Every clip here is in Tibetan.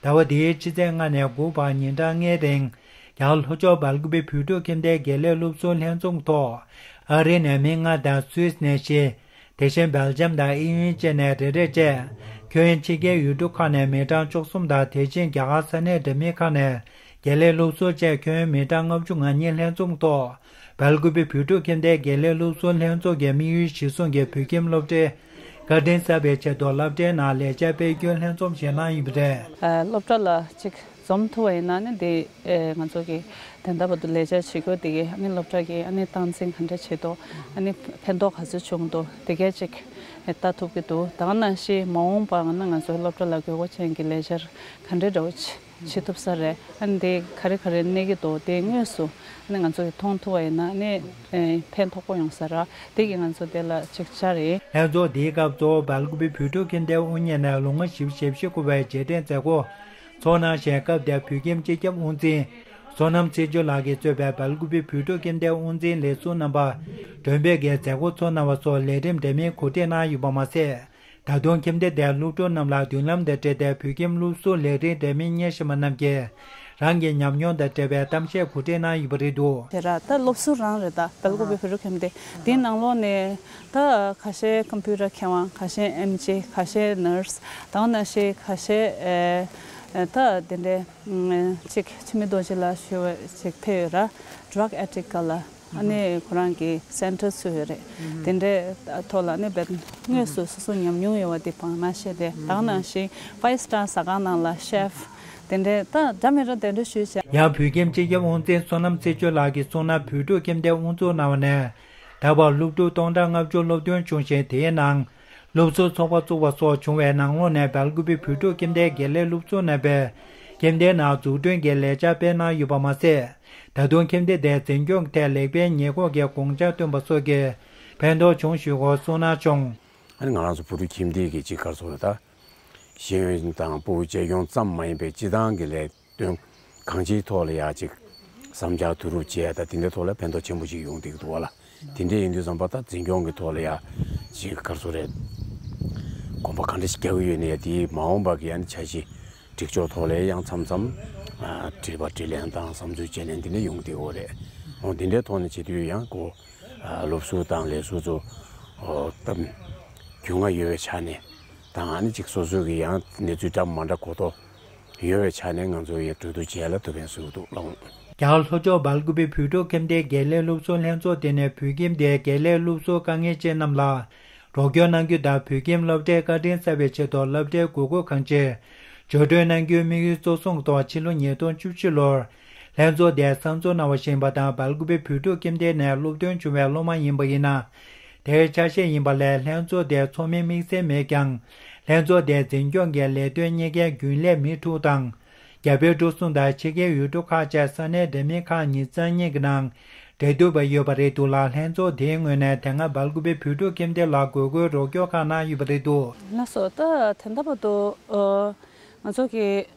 ཟླ་བ་འདིའི་ཕྱི་ཚེས་ལྔ་ནས་དགུ་བར་ཉིན་གྲངས་ལྔའི་སྟེང། ཡང་ལྷོ་ཕྱོགས་སྦལ་ཀུབའི་བོད་ཕྲུག་ཁྱིམ་སྡེའི་དགེ་ལས་སློབ་གསོའི་ལྷན་ཚོགས་ཐོག་ཨ་རི་ནས་མི་ལྔ་དང Swiss ནས་བཞི། དེ་བཞིན Belgium དང་ཨི་ཡུན་བཅས་ནས་རེ་རེ་བཅས། ཁྱོན་ཡན་ཕྱི་རྒྱལ་ཡུལ་གྲུ་ཁག་ནས་མི་གྲངས་བཅུ་གསུམ་དང་དེ་བཞིན་རྒྱ་གར་ས་གནས་འདྲ་མིན་ཁག་ནས་དགེ་ལེགས་སློབ་གསོ་བཅས་ཁྱོན་མི་གྲངས་ལྔ་བཅུ་ང་གཉིས་ལྷན་འཛོམས་ཐོག་བལ་གོས་པའི་བོད་ཕྲུག་ཁྱིམ་སྡེའི་དགེ་ལེགས་སློབ་གསོ་ལྷན་ཚོགས་ཀྱི་དམིགས་ཡུལ་གཞིར་བཟུང་གི་བོད་ཁྱིམ་སློབ་གྲྭའི་དགའ་ལྡན་གསར་པའི་ཆེད་དུ་བསླབ་གྲྭའི་ནང་ལེགས་སྦྱར་དཔེ་སྐྱོན་ལྷན་འཛོམས་ཞིག་གནང་ཡོད་པ་རེད། སློབ་གྲྭ་ལ་གཅིག་འཛོམས་ཐུབ་པ་ཡིན་ན་ནི་དེ་ང་ཚོ་གི་དན་ད་བར་དུ་ལེགས་སྦྱར་བྱེད་དགོས་དེ་གའི་སློབ་གྲྭ་གི་སྟངས་འཛིན་ག་འདྲ་བྱེད་དོ་ཕན་ཐོགས་ག་ཚོད་བྱུང་འདུག་དེ་གས་ཅིག་ལྟ་ཐུབ་ཀྱི་འདུག་ད་ང་ནང་བཞིན་མ་འོངས་པ་ང་ཚོའི་སློབ་གྲྭ་ལ་དགོས་མཁོ་ཅན་གྱི་ལེགས་སྦྱར་ག་འདྲའི་འདྲ་བོ་བྱེད་ཐུབ་ས་རེད་ཨ་དེ་ག་རེ་ག་རེ་གནས་ཀྱི་འདུག་དེ་དངོས་སུ་ཨ་ང་ཚོ་གི་མཐོང་ཐུབ་པ་ཡིན་ན་ཨ་ཕན་ཐོགས་པོ་ཡོང་ས་རེད་དེ་གི་ང་ཚོ་དེ་ལ་ཅིག་ཅར་རེད། ལྷན་ཚོགས་དེའི་སྐབས་གཙོ་བོ་འབལ་གོ་པའི་བུ་ཕྲུག་གིས་མདེལ་དབུ་བརྙེས་ནས་ལོ་ང་བཞི་བཅུ་ཞེ་བཞི་འཁོར་བའི་རྗེས་དྲན་མཛད་སྒོ། ཚོགས་ནང་གཞན་སྐབས་དེར་བོད་ཁྱིམ་སྤྱི་ཁྱབ་དབུ་འཛིན། བསོད་ནམས་ཚེ་མཆོག་ལགས་ཀྱིས་གཙོས་པའི་འབལ་གོ་པའི་བུ་ཕྲུག་གི་མདེལ་དབུ་འཛིན་ལས་ཟུར་རྣམ་པ། མགྲོན་དཔེ་འགའི་མཛད་སྒོ་ཚོགས་གནང་བ་སོགས་ལས་རིམ་འདྲ་མིན་གོ་སྒྲིག་གནང་ཡོད་པ་མ་ཟད། ད་དུང་ཁྱིམ་སྡེ་དེའི་སློབ་ཕྲུག་རྣམས་ལ་མདུན་ལམ་དང་འབྲེལ་ཏེ་བོད་ཁྱིམ་སློབ་གསོ་ལས་རིགས་འདྲ་མིན་གཉེར་བཞིན་པ་རྣམས་ཀྱིས་རང་གི་ཉམས་མྱོང་དང་འབྲེལ་བའི་གཏམ་བཤད་གོ་སྒྲིག་གནང་ཡོད་པ་རེད་འདུག། དེ་ར་ད་སློབ་ཟུར་རང་རེད་ད་བལ་གོ་བའི་བོད་རུ་ཁྱིམ་སྡེ་དེའི་ནང་ལོག་ནས་ད་ཁ་ཤས་ཀམ་ཕུའུ་ར་མཁས་དབང་ཁ་ཤས་ཨེམ་ཇེ་ཁ་ཤས་ནུརས་དང་ན་ཤེ་ཁ་ཤས་ད་དེ་འདྲའི་ཅིག་ཕྱི་མི་རྡོ་རྗེ་ལ་ཞུ་བ་ཅིག་ཕེ་ཡོད་ར Drug Addict ག་ལ། ཨ་ནི་ཁོ་རང་གི Center ཚུད་ཡོད་རེད། དེ་འདྲའི་ཐོག་ལ་ནི་བོད་དངོས་སུ་སོ་སོ་ཉམས་མྱོང་ཡོད་བ་དེ་བང་མ་བཤད་དེ་དྭགས་ནང་བཞིན Five Star ཟ་ཁང་ནང་ལ Chef དེ་འདྲའི་ད་སྒྲ་མི་ར་དེ་འདྲ་ཞུས་བྱས། ཡང་བོད་ཁྱིམ་སྤྱི་ཁྱབ་དབང་འཛིན་བསོད་ནམས་རྩེ་ཆོས་ལགས་ཀྱིས་གཙོ་ན་བོད་ཕྲུག་ཁྱིམ་སྡེ་དབུ་འཛུགས་གནང་བ་ནས་ད་བར་སློབ་ཕྲུག་སྟོང་ཕྲག་ལྔ་བཅུ་སློབ་སྟོན་བྱུང་ཞིང་དེའི་ནང་སློབ་གསོའི་ཚོགས་པ་བཙུགས་པ་སོགས་བྱུང་བའི་ནང་ལོ་ནས་དར་གུད་པའི་བུ་ཕྲུག་ཁྱིམ་སྡེའི་དགེ་ལས་སློབ་ཆུང་རྣམ་པས་ཁྱིམ་སྡེའི་ནང་འཛུགས་སྐྲུན་གྱི་ལས་འཆར་སྤེལ་གནང་ཡོད་པ་མ་ཟད། ད་དུང་ཁྱིམ་སྡེ་དེ་འཛིན་སྐྱོང་གི་ཐད་ལེགས་སྤེལ་ཉེས་འགོག་གི་དགོངས་འཆར་བཏོན་པ་སོགས་ཀྱིས་ཕན་ཐོགས་བྱུང་ཞུས་སྐོར་གསུང་གནང་བྱུང། ང་རང་ཚོ་བུ་ཕྲུག་ཁྱིམ་སྡེ་གྱི་གཅིག་ག་ཚོད་ལ་དང། ཤེས་ཡོན་དང་སྤོ་བོའི་གཅེས་སྐྱོང་ཙམ་མ་ཡིན་པའི་སྤྱི་བཏང་གི་ལས་དོན་གང་ཅིའི་ཐོག་ལ་ཡང་ཅིག་བསམ་འཆར་བསྡུ་རུབ་བྱས་དང་དེ་འདྲའི་ཐོག་ལ་ཕན་ཐོགས་ཆེན་པོ་ཞིག་ཡོང་ཐིག་འདུག་ལ། དེ་འདྲའི་ཡིན་དུས་བསམ་པ་དང་འཛིན་སྐྱོང་གི་ཐོག་ལ་ཡང་ཅིག་སྐར་ཚོགས་རེར་གོམ་པ་གང་འདྲ་ཞིག་རྒྱག་གི་ཡོད་ནས་དེའི་མ་འོངས་པ་གི་ཡང་འཆར་གཞི་སྒྲིག་ཕྱོགས་ཐོག་ལ་ཡང་མཚམས་མཚམས་དྲིས་པ་དྲིས་ལན་དང་བསམ་ཚུལ་བཅད་ལེན་དེ་འདྲ་ཡོང་ཐིག་འོ་རེད་འོང་དེ་འདྲའི་ཐོག་ནས་བྱེད་དུས་ཡང་སྒོ་སློབ་གསོ་དང་ལས་བཟོ་ཚོ་སྟབས་རྒྱུས་མངའ་ཡོད་པའི་ཆ་ནས་དང་ནི་ཅིག་སོ་སོ་གི་ཡང་གནས་ཚུལ་འདྲ་མ་འདྲ་གོ་ཐོག་ཡོལ་བའི་ཆ་ནས་ང་ཚོ་ཡི་དྲོད་དུ་བྱས་ལ་དུ་བའི་ཟུག་རྡུག་སློང། རྒྱ་གར་ལྷོ་ཕྱོགས་སྦལ་ཀུབེ་བོད་ཕྲུག་ཁྱིམ་སྡེའི་དགེ་ལས་སློབ་གསོ་ལྷན་ཚོགས་དེ་ནས་བོད་ཁྱིམ་སྡེའི་དགེ་ལས་སློབ་གསོ་དཀའ་ངལ་ཅན་རྣམས་ལ་རོགས་སྐྱོར་གནང་རྒྱུ་དང་བོད་ཁྱིམ་སློབ་གྲྭའི་བཀའ་དྲིན་གསབ་པའི་ཆེད་དུ་སློབ་གྲྭའི་དགོས་མཁོ་གང་ཆེ་བརྗོད་སྒྲོན་གནང་རྒྱུའི་དམིགས་ཡུལ་གཙོ་བཟུང་ཐོག་ཕྱི་ལོ་ཉིས་སྟོང་བཅུ་བཞི་ལོར་ལྷན་ཚོགས་དེས་གསར་འཛུགས་གནང་བ་ཞིང་པ་དང་སྦལ་ཀུབེ་བོད་ཕྲུག་ཁྱིམ་སྡེ་ནས་སློབ་ཐོན་བྱུང་བའི་སློབ་མ་ཡིན་པ་ཡིན་ན་དེའི་ཆ་ཤས་ཡིན་པ་ལས་ལྷན་ཚོགས་དེའི་ཚོགས་མིའི་དམིགས་བསལ་མེད་ཀྱང། ལྷན་ཚོགས་དེའི་འཛིན་སྐྱོང་གི་ལས་དོན་གཉེར་མཁན་རྒྱུན་ལས་མི་དྲུག་དང། རྒྱ་བལ་འབྲུག་གསུམ་དང་ཕྱི་རྒྱལ་ཡུལ་གྲུ་ཁག་བཅས་ས་གནས་འདྲ་མིན་ཁག་གཉིས་རྩ་གཉིས་ཀྱི་ནང་འབྲེལ་གཏུག་པ་ཡོད་པ་རེད་འདུག་ལ་ལྷན་ཚོགས་དེའི་ངོས་ནས་དེ་སྔ་འབར་དགུ་པའི་བོད་ཕྲུག་ཁྱིམ་སྡེ་ལ་དགོས་མཁོའི་རོགས་སྐྱོར་ཁག་གནང་ཡོད་པ་རེད་འདུག། ན་སོ་ད་ཐེངས་ད་བར་དུ། ང་ཚོ་གི་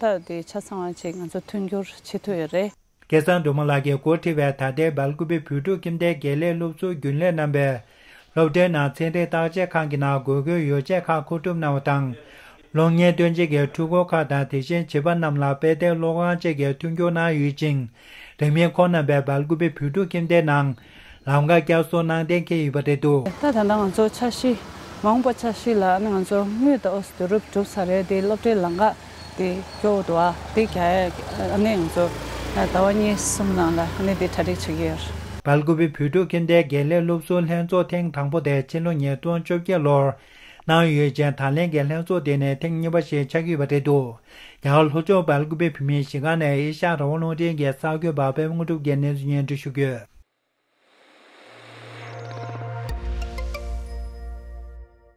ད་དེ་ཆ་ཚང་བ་ཅིག་ང་ཚོ་མཐུན་འགྱུར་བྱེད་ཐུབ་ཡོད་རེད། སྐལ་བཟང་མགྲོན་མོ་ལགས་ཀྱིས་མགོ་ཁྲིད་པའི་ད་ལྟའི་སྦལ་ཀུ་བི་བོད་ཕྲུག་ཁྱིམ་སྡེའི་དགེ་ལས་སློབ་གསོ་རྒྱུན་ལས་རྣམ་པས། སློབ་གྲྭའི་ནང་ཚན་རིག་བརྟག་དཔྱད་ཁང་གི་ནང་དགོས་མཁོའི་ཡོ་བྱད་ཁག་མཁོ་སྒྲུབ་གནང་བ་དང། གློག་བརྙན་སྟོན་བྱེད་ཀྱི་འཕྲུལ་འཁོར་ཁག་དང་དེ་བཞིན་བྱིས་པ་རྣམས་ལ་དཔེ་ལྟའི་གློག་ཁང་བཅས་ཀྱི་མཐུན་འགྱུར་གནང་ཡོད་ཅིང། རིང་མིན་ཁོང་རྣམ་པས་སྦལ་ཀུ་བི་བོད་ཕྲུག་ཁྱིམ་སྡེའི་ནང་ལམ་དགའ་སྐྱ་སོགས་ནང་བསྟན་མཁན་ཡོད་པ་རེད་དོ། ད་ད་ང་ཚོ་ཆ་ཤི་མང་པོ་ཆ་ཤི་ལ་ང་ཚོ་དངུལ་དང་ཨོ་སི་རུབ་གྲུབ་ས་རེད་དེ་སློབ་གྲྭའི་ལམ་དགའ་དེ་སྐྱོ་བོ་དུ་བ་དེ་ག་ཨ་ནེ་ང་ཚོ་ཟླ་བ་གཉིས་གསུམ་ནང་ལ་ཨ་ནེ་དེ་གྲ་སྒྲིག་བྱེད་ཀྱི་ཡོད་རེད། བལ་གུ་བའི་བུ་ཕྲུག་གིན་དེ་དགེ་ལས་སློབ་གསོ་ལྷན་ཚོགས་ཐེངས་དང་པོ་དེ་ཕྱི་ལོ་ཉིས་སྟོང་བཅོ་བརྒྱད་ལོར་གནང་ཡོད་ཅེས་དང་ལེན་གྱི་ལྷན་ཚོགས་དེ་ནི་ཐེངས་གཉིས་པ་ཞིག་ཆགས་ཀྱི་ཡོད་པ་རེད་འདུག་ཡང་ལྷོ་ཕྱོགས་བལ་སྐུད་པའི་བུད་མེད་གཞིས་ཀ་ནས་ཨེ་ཤ་ར་བ་རླུང་འཕྲིན་གྱི་གསར་འགོད་པ་པད་དངོས་གྲུབ་ཀྱི་གནས་ཚུལ་སྙན་སྒྲོན་ཞུ་རྒྱུ།